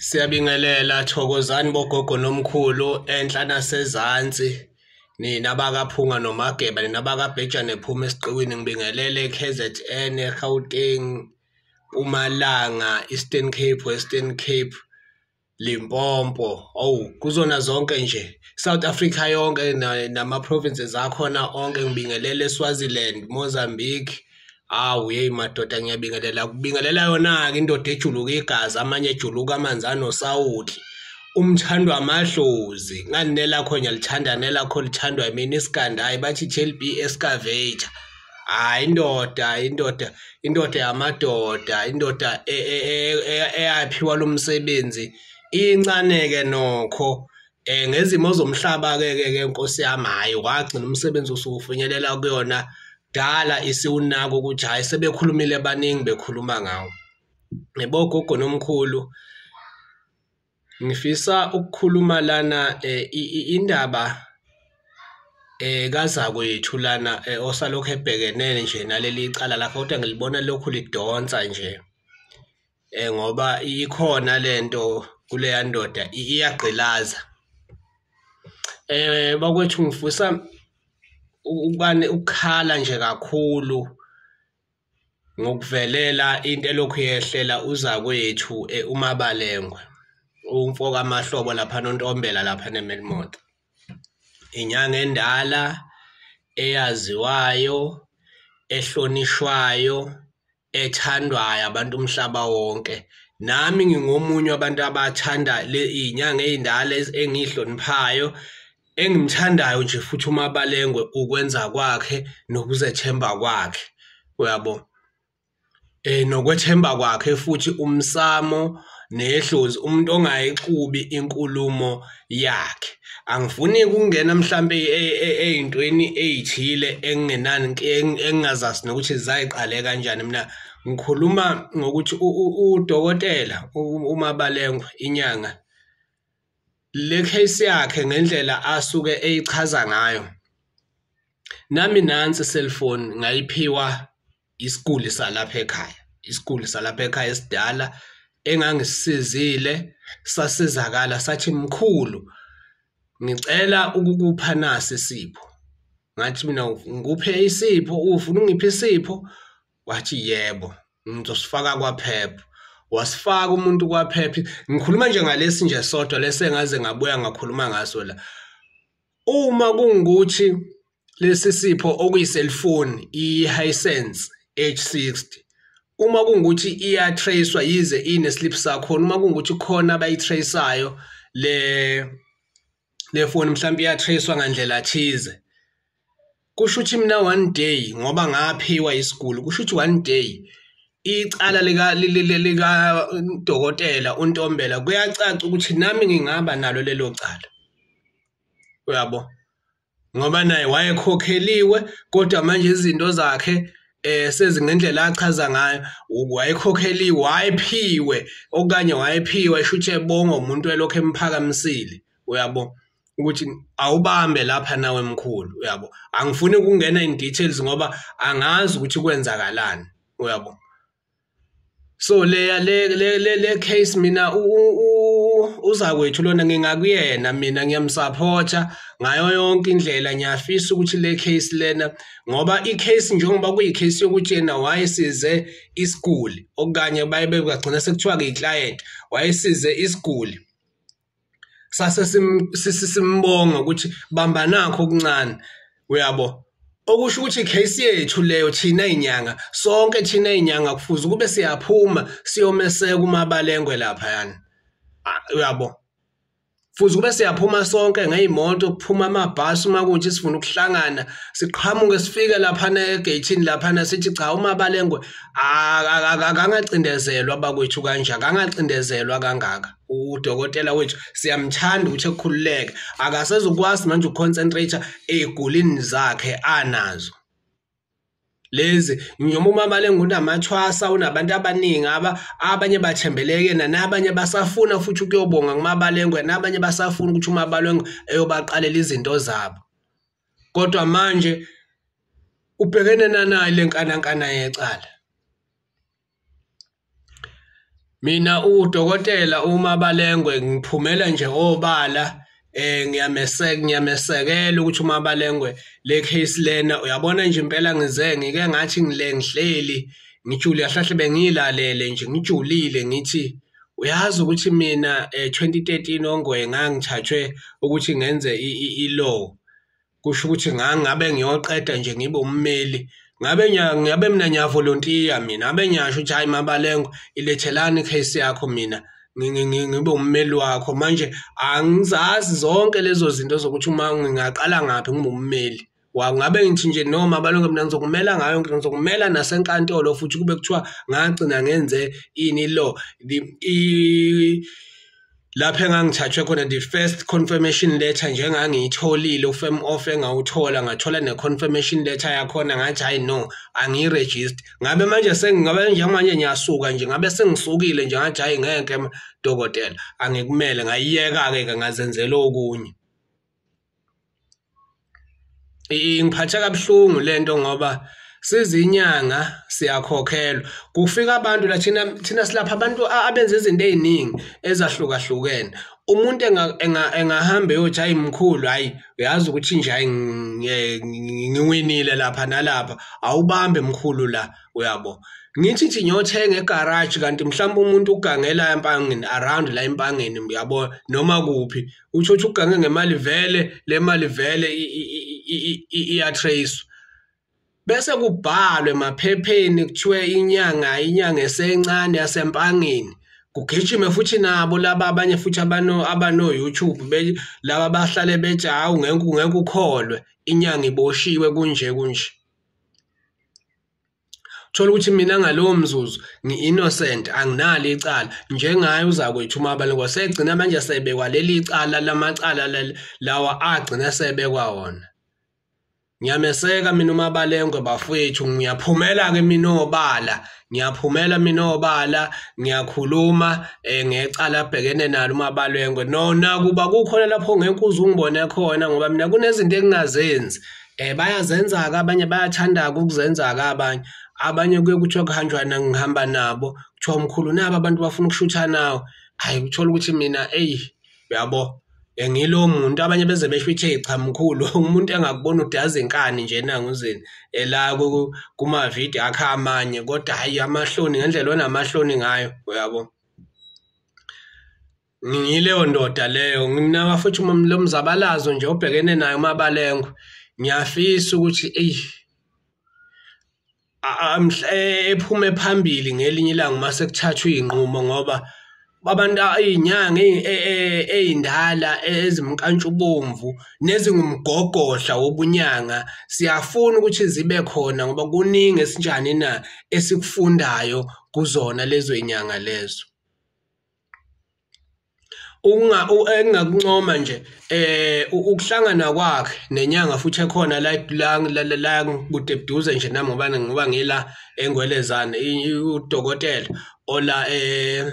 Siyabingelela thokozani bogogo nomkhulu enhla nasezansi nina bakaphunga nomageba nina bakabhejane phuma esiqiwini ngibingelele KZN eGauteng Mpumalanga Eastern Cape Western Cape Limpopo awu kuzona zonke nje South Africa yonke nama provinces akhona onke ngibingelele Swaziland Mozambique awu yeyi madoda ngiyabingelela kubingelela yona ke indoda ejuluka igazi amanye ejuluka amanzi anosawuthi umthandwa amadlozi ngani nelakho ngiyalithanda nelakho lithandwa yimina isikanda hayi bathi i-chelb escavator hayi indoda indoda indoda yamadoda indoda e, e, e, eyaphiwa lo msebenzi incane-ke nokho um ngezimo zomhlaba-ke ke ke nkosi yami hhayi wagcina umsebenzi usuwufinyelela kuyona kudala isiwunaka ukuthi hhayi sebekhulumile baningi bekhuluma ngawo ngibogogo nomkhulu Ngifisa ukukhuluma lana eh, indaba eh kazakwethu lana eh, osalokhu ebhekene nje naleli cala lakhe kodwa ngilibona lokhu lidonsa nje eh ngoba ikhona lento kuleya ndoda iyagqilaza eh bakwethu ngifisa ukubane ukukhala nje kakhulu Ngokuvelela into elokhu yehlela uzakwethu eh, uMabalengwe umfo kaMahlobo lapha noNtombela lapha neMelmoth. Inyanga endala eyaziwayo ehlonishwayo ethandwayo abantu umhlaba wonke nami ngingomunye wabantu abathanda le inyanga ezindala engihloniphayo Engimthandayo nje futhi uMabalengwe ukwenza kwakhe nokuzethemba kwakhe. Uyabo? Eh nokwethemba kwakhe futhi umsamo nehlozi umuntu ongayixubi inkulumo yakhe. Angifuni ukungena mhlambe ezintweni e, e, ezithile engingenani engingazazi nokuthi zayiqale kanjani mina ngikhuluma ngokuthi udokotela uMabalengwe inyanga le case yakhe ngendlela asuke eyichaza ngayo nami nansi cellphone ngayiphiwa isiguli salapha ekhaya isiguli salapha ekhaya esidala engangisizile sasizakala sathi mkhulu ngicela ukukupha nasi isipho ngathi mina ngikuphe isipho ufuna ungiphe isipho wathi yebo ngizosifaka kwaphepha wasifaka umuntu kwaphepha ngikhuluma nje ngalesi nje sodwa lesi engaze ngabuya ngakhuluma ngaso la uma kungukuthi lesi sipho okuyiselfoni i-hisense h60 uma kungukuthi iyatracwa yize ineslip sakhona uma kungukuthi khona abayitraceayo le lefoni mhlawumbe iyatracewa ngandlela thize kusho ukuthi mina one day ngoba ngaphiwa isiguli kusho ukuthi one day icala lika lika dokotela untombela kuyacaca ukuthi nami ngingaba nalo lelo cala uyabo ngoba naye wayekhokheliwe kodwa manje izinto zakhe eh sezingendlela achaza ngayo wayekhokheliwe wayephiwe okanye wayephiwe shuthi ebonga umuntu elokho emphakamisile uyabo ukuthi awubambe lapha nawe mkhulu uyabo angifuni ukungena in details ngoba angazi ukuthi kwenzakalani uyabo so leya le le le, le case mina uzakwethu lona ngingakuyena mina ngiyamsupporta ngayo yonke indlela ngiyafisa ukuthi le case lena ngoba i case njengoba kuyi case yokuthi yena wayesize isiguli okanye baye begcina sekuthiwa ke i client wayesize isiguli sase simbonga ukuthi bamba nakho okuncane uyabo okusho ukuthi case yethu leyo thina inyanga sonke thina inyanga kufuze kube siyaphuma siyomeseka umabalengwe lapha yani ah, uyabo futhi kube siyaphuma sonke ngeyimoto kuphuma amabhasi uma kunje sifuna ukuhlangana siqhamuke sifike lapha negeyithini lapha sithi cha uma balengwe akangacindezelwa bakwethu kanje akangacindezelwa kangaka udokotela wethu siyamthanda ukuthi ekhululeke akasezokwazi manje ukuconcentrate egulini zakhe anazo lezi noma umama lengunamathwasa unabantu abaningi aba abanye bathembele kuyena nabanye basafuna futhi ukuyobonga kumabalengwe nabanye basafuna ukuthi umabalengwe eyobaqalela izinto zabo kodwa manje ubhekene nanayo lenkanankana yecala Mina udokotela uma balengwe ngiphumela nje obala eh ngiyameseka ngiyamesekela ukuthi uma balengwe le case lena uyabona nje impela ngize ngike ngathi ngile ngihleli ngijule yahlahle bengilalele nje ngijulile ngithi uyazi ukuthi mina eh 2013 ongwe ngangithathwe ukuthi ngenze i-law kusho ukuthi ngangabe ngiyoqeda nje ngibe ummeli ngabe ngabe mina ngiyavolontiya mina ngabe ngiyasho ukuthi hhayi mabalengo ilethelani i-case yakho mina ngibe ummeli wakho manje angizazi zonke lezo zinto zokuthi uma ngingaqala ngaphi ngibe ummeli ngabe ngithi nje noma balonge mina ngizokumela ngayo ngithi ngizokumela nasenkantolo futhi kube kuthiwa ngagcina ngenze ini lo lapho engangithathwe khona the first confirmation letter nje engangiyitholile ufirm off engawuthola ngathola ne-confirmation letter yakhona ngathi hayi no angiyiregister ngabe manje sengingabe njengamanje ngiyasuka nje ngabe sengisukile nje ngathi hayi ngeke dokotela angikumele ngayiyeka-ke ke ngazenzela okunye ingiphatha kabuhlungu lento ngoba sizinyanga siyakhokhelwa kufika abantu la thina thina silapha abantu abenza izinto eziningi ezahlukahlukene umuntu engahamba eyothi hayi mkhulu hayi uyazi ukuthi nje hayi ngiwinile lapha nalapha awubambe mkhulu la uyabo ngithi nje ngiyothenga egaraji kanti mhlawumbe umuntu ugangela empangeni around la empangeni uyabo noma kuphi utsho ukuthi ugange ngemali vele le mali vele iyatracewa bese kubhalwe emaphepheni kuthiwe inyanga inyanga esencane yasempangeni kugijime futhi nabo laba abanye futhi abano abano YouTube be laba bahlale bethi hawu ngeke ngeke ukholwe inyanga iboshiwe kunje kunje thola ukuthi mina ngalowo mzuzu ngi-innocent anginalo icala njengaye uzakwethu umabani kwasegcina manje sebekwa leli cala lamacala lawa agcina sebekwa wona ngiyameseka mina umabalengwe bafowethu ngiyaphumela-ke mina obala ngiyaphumela mina obala ngiyakhuluma um ngecala abhekene nalo umabalengwe nona kuba kukhona lapho ngeke uze ungibone khona ngoba mina kunezinto engingazenzi Eh bayazenza-ke abanye bayathanda-ke ukuzenza-ke abanye. Abanye kuye kuthiwe kuhanjwa ngihamba nabo, kuthiwa umkhulu nabo abantu bafuna ukushutha nawo. Hhayi uthole ukuthi mina eyi uyabo ngilowo muntu abanye beze besho ukuthi eyi cha mkhulu umuntu engakubona ukuthi yazi inkani nje nanguzini ela kuma-video akhe amanye kodwa hhayi amahloni ngendlela onamahloni ngayo uyabo. ngiyileyo ndoda leyo ngimnaka futhi lo mzabalazo nje obhekene nayo umabalengwe ngiyafisa ukuthi eyi ephume phambili ngelinye ilanga uma sekuthathwa iy'nqumo ngoba abantu iy'nyanga ey'ndala e, e, ezimnkantshubomvu nezingumgogodla wobunyanga siyafuna ukuthi zibe khona ngoba kuningi esinjani na esikufundayo kuzona lezo y'nyanga lezo ukunga engingakuncoma nje eh ukuhlangana kwakhe nenyanga futhi ekhona la la la kude buduze nje nami ngoba ngoba ngila engwelezana udokotela ola eh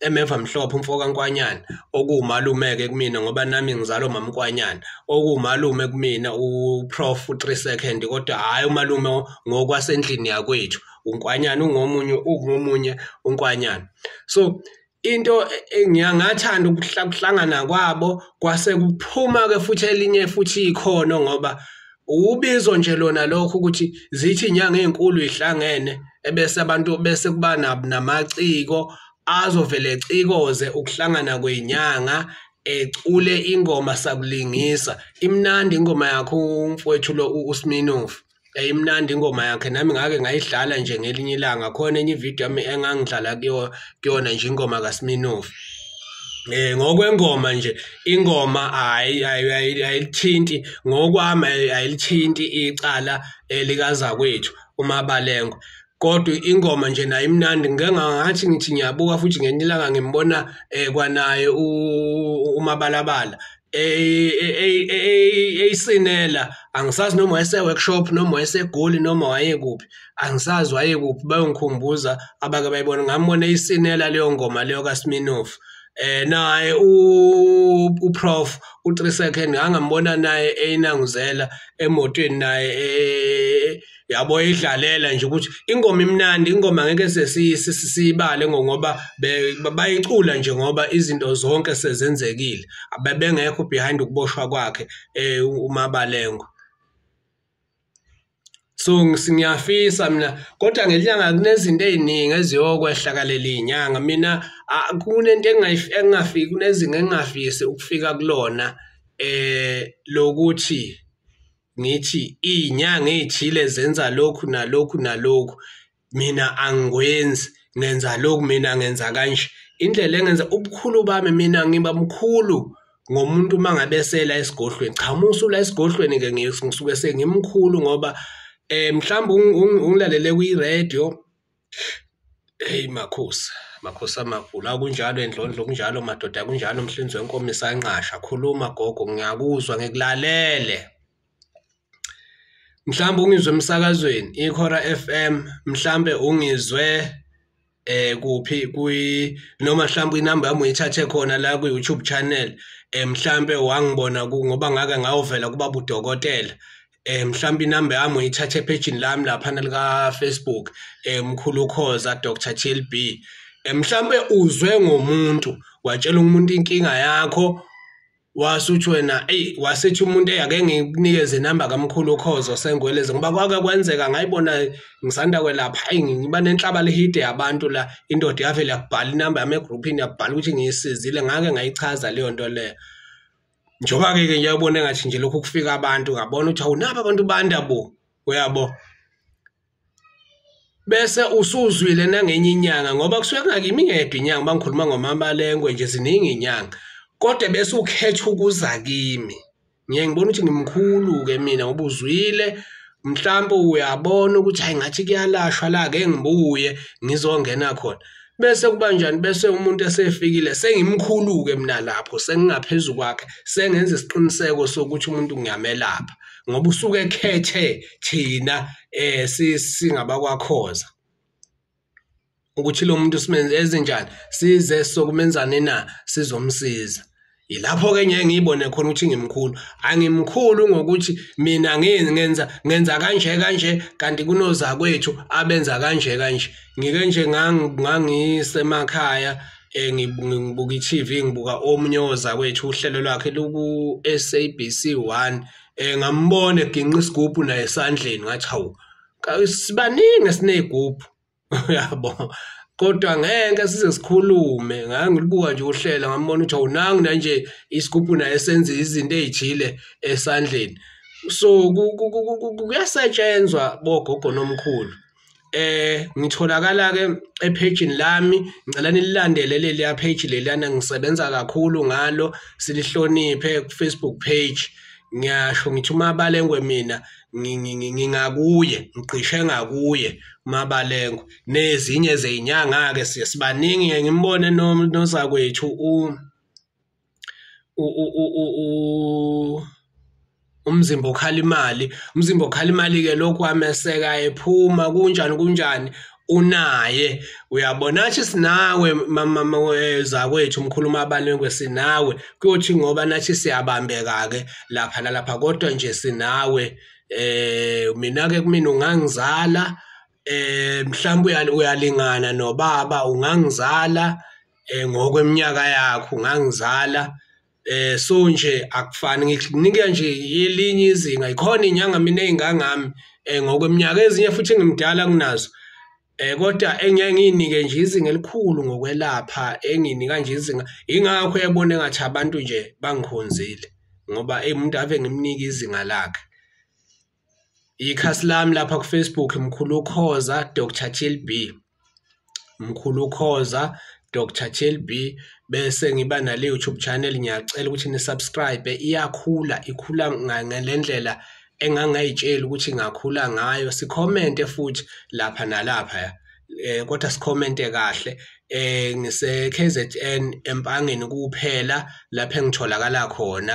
emeva mhlophe umfoka Nkwanyana okuwumalumeke kumina ngoba nami ngizalo mamkwanyana okuwumalume kumina uprof 3 second kodwa hayi umalume ngokwasendlini yakwethu unkwanyana ungomunye ungomunye unkwanyana so into ngiyangathanda ukuhlangana kwabo kwase kuphuma ke futhi elinye futhi ikhono ngoba ubizo nje lona lokho ukuthi zithi inyanga ezinkulu ihlangene ebese abantu bese kuba namaciko azovele ecikoze ukuhlangana kwenyanga ecule ingoma sakulingisa imnandi ingoma yakho umfowethu lo uSminofu yayimnandi ingoma yakhe nami ngake ngayidlala nje ngelinye ilanga khona enye ividiyo yami engangidlala kuyona nje ingoma kaSminoff eh ngokwengoma nje ingoma hayi ayilithinti ngokwami ayilithinti icala elikazakwethu umabalengwe kodwa ingoma nje nayo imnandi ngike ngathi ngithi ngiyabuka futhi ngenye ilanga ngimbona eh kwanaye umabalabala eyisinela angisazi noma wayese workshop noma wayese goli noma waye kuphi angisazi waye kuphi bayongikhumbuza abake bayibona ngambona eyisinela leyo ngoma leyo kaSminoff eh naye uprof u3 second angambona naye eyinanguzela emotweni naye eh, yabo idlalela nje ukuthi ingoma imnandi ingoma ngeke sesiyibale ngoba bayicula nje ngoba izinto zonke sezenzekile abebengekho behind ukuboshwa kwakhe eh, umabalengo so ngiyafisa mina kodwa ngenyanga kunezinto eziningi eziyokwehla kaleli inyanga mina kunento engingafiki kunezinga engingafisi ukufika kulona eh lokuthi ngithi iy'nyanga ey'thile zenza lokhu nalokhu nalokhu mina angikwenzi ngenza lokhu mina ngenza kanje indlela engenza ubukhulu bami mina ngiba mkhulu ngomuntu uma ngabe esela esigodlweni cha uma usula esigodlweni-ke ngisuke sengimkhulu ngoba um mhlawumbe ungilalele kwi-radio Hey makhosi, makhosi amakhulu, akunjalo endlondlo, kunjalo madoda, kunjalo mhlinzi wenkomo isanqasha. Khuluma gogo, ngiyakuzwa ngikulalele. Mhlawumbe ungizwe emsakazweni ikhora FM, mhlawumbe ungizwe eh kuphi kwi noma mhlawumbe inamba yami uyithathe khona la ku YouTube channel eh mhlawumbe wangibona ngoba ngake ngawuvela kuba budokotela eh mhlawumbe inamba yami uyithathe ephejini lami lapha lika Facebook eh mkhulu ukhoza Dr TLB eh mhlawumbe uzwe ngomuntu watshela umuntu inkinga yakho wasuthi wena ey wasethi umuntu eyake ngikunikeze inamba kamkhulu ukhozo sengweleze ngoba kwake kwenzeka ngayibona ngisanda kwelapha ayi ngiba nenhlaba lihide yabantu la indoda yavele yakubhala inamba yami egroupini yakubhala ukuthi ngiyisizile ngake ngayichaza leyo nto leyo njengoba-ke ke nje ubone ngathi nje lokhu kufika abantu ngabona ukuthi awunabo abantu banda bo uyabo bese usuzwile nangenye inyanga ngoba kusuke kungakimi ngedwa inyanga uma ngikhuluma ngomamalengwe nje ziningi inyanga kodwa bese ukhetha ukuza kimi ngiye ngibona ukuthi ngimkhulu-ke mina ngoba uzwile mhlawumbe uyabona ukuthi hayi ngathi kuyalashwa la ke ngibuye ngizongena khona bese kubanjani bese umuntu esefikile sengimkhulu-ke mina lapho sengingaphezu kwakhe sengenza isiqiniseko sokuthi umuntu ngiyamelapha ngoba usuke ekhethe thina um singabakwakhoza ukuthi lo muntu simenze ezinjani size sokumenzani na sizomsiza Yilapho-ke ngeke ngiyibone khona ukuthi ngimkhulu. Angimkhulu ngokuthi mina ngenza ngenza kanje kanje kanti kunozakwethu abenza kanje kanje. Ngike nje ngangisemakhaya eh, ngibuka i-TV ngibuka omunye ozakwethu uhlelo lwakhe luku-SABC 1 eh, ngambona eginqa isigubhu naye esandleni ngathi hawu sibaningi esiney'gubhu uyabo kodwa ngeke size sikhulume ngangilibuka nje uhlela ngambona ukuthi awunangi nanje isigubhu naye senza izinto ezijile esandleni so kuyasetshenzwa bogogo nomkhulu eh ngitholakala ke ephejini lami ngicela nililandele leli ya page lelana ngisebenza kakhulu ngalo silihloniphe ku Facebook page ngiyasho ngithi uma balengwe mina ngingakuye ngigqishe ngakuye umabalengo nezinye zeyinyanga-ke siye sibaningi ngiye ngimbone nozakwethu umzimba okhala imali umzimba okhala imali-ke lokhu wameseka ephuma kunjani kunjani unaye uyabona athi sinawe mama weza kwethu umkhuluma abanengwe sinawe kuyothi ngoba nathi siyabambeka ke lapha nalapha kodwa nje sinawe eh mina ke kumina ungangizala eh mhlawumbe uyalingana nobaba ungangizala eh ngokweminyaka yakho ungangizala eh so nje akufani nginika nje yelinye izinga ikhona inyanga mina engangami eh ngokweminyaka ezinye futhi ngimdala kunazo eh kodwa engiye nginike nje izinga elikhulu ngokwelapha enginika nje izinga ingakho yabona engathi abantu nje bangikhonzile ngoba emuntu ave ngimnika izinga lakhe ikhasi lami lapha kufacebook mkhulu khoza dr chlb mkhulu khoza dr chlb bese ngiba nale youtube channel ngiyacela ukuthi nisubscribe iyakhula ikhula ngalendlela engangayitsheli ukuthi ngakhula ngayo sikhomente futhi lapha nalapha ya eh kodwa sikhomente kahle eh ngise KZN empangeni kuphela lapho engitholakala khona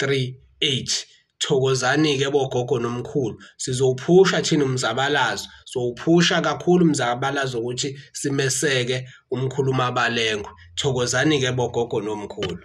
3H thokozani-ke bogogo nomkhulu sizowuphusha thina umzabalazo sowuphusha kakhulu umzabalazo ukuthi simeseke umkhuluma abalengwe thokozani-ke bogogo nomkhulu